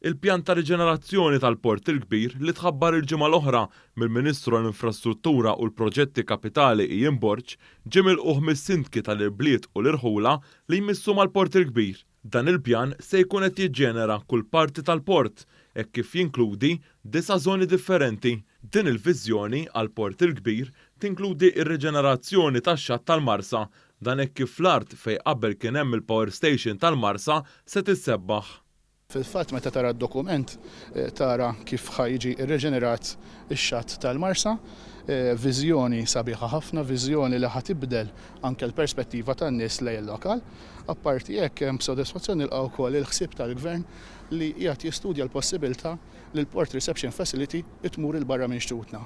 Il-pjan ta' riġenerazzjoni tal-Port il-Kbir li tħabbar il-ġimgħa l-oħra mill-Ministru għall-Infrastruttura u l-Proġetti Kapitali Ian Borg ġie milqugħ mis-Sindki tal-Irbliet u l-Irħula li jmissu mal-Port il-Kbir. Dan il-pjan se jkun qed jiġġenera kull parti tal-port hekk kif jinkludi disa' żoni differenti. Din il-viżjoni għall-Port il-Kbir tinkludi r-riġenerazzjoni tax-xatt tal-Marsa, Dan hekk kif l-art fejn qabel kien hemm il-power station tal-Marsa se tissebbaħ. Fil-fatt meta tara d-dokument tara kif ħa jiġi rreġenerat ix-xatt tal-Marsa. Viżjoni sabiħa ħafna, viżjoni li ħa tibdel anke l-perspettiva tan-nies lejn il-lokal. Apparti hekk, b'sodisfazzjon nilqa' wkoll il-ħsieb tal-Gvern li qiegħed jistudja l-possibilità li l-Port Reception Facility tmur 'il barra minn xtutna.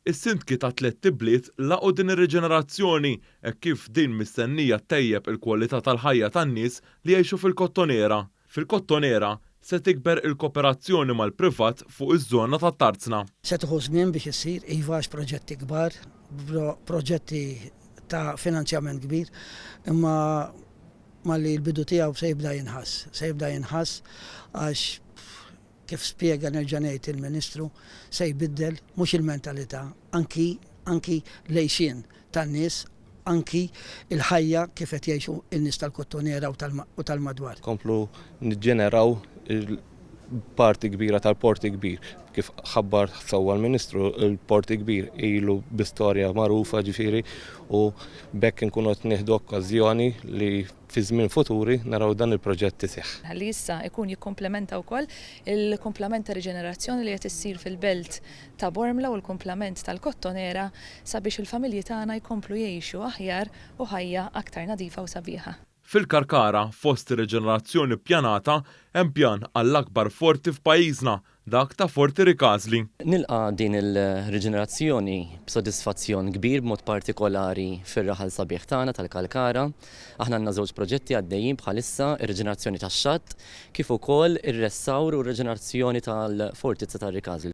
Is-Sindki ta' tlett ibliet laqgħu din ir-riġenerazzjoni hekk kif din mistennija ttejjeb il-kwalità tal-ħajja tan-nies li jgħixu fil-Kottonera. Fil-Kottonera, se tikber il-koperazzjoni mal-privat fuq iż-żona tat-Tarzna. Se tieħu żmien biex issir, iva għax proġetti kbar, proġetti ta' finanzjament kbir, imma malli l-bidu tiegħu se jibda jinħass. Se jibda jinħass għax Kif spjega nerġa' ngħid il-Ministru, se jbiddel mhux il-mentalità, anki, anki l-għixien tan-nies, anki l-ħajja kif qed jgħixu n-nies tal-Kottonera u tal-madwar. Nkomplu niġġeneraw parti kbira tal-Port il-Kbir. Kif ħabbar sewwa l-Ministru, il-Port il-Kbir ilu bi storja magħrufa ġifieri u b'hekk inkunu qed nieħdu okkażjoni li fi żmien futuri naraw dan il-proġett iseħħ. Li issa jkun jikkumplementa wkoll il-kumplament ta' riġenerazzjoni li qed issir fil-belt ta' Bormla u l-kumplament tal-Kottonera sabiex il-familji tagħna jkomplu jgħixu aħjar u ħajja aktar nadifa u sabiħa. Fil-Karkara, fost ir-riġenerazzjoni ppjanata, hemm pjan għall-akbar forti f'pajjiżna, dak ta' Forti Rikażli. Nilqa' din il-riġenerazzjoni b'sodisfazzjon kbir b'mod partikolari fir-raħal sabiħ tagħna tal-Kalkara. Aħna għandna żewġ proġetti għaddejjin bħalissa, ir-riġenerazzjoni tax-xatt kif ukoll ir-restawr u r-riġenerazzjoni tal-Fortizza tar-Rikażli.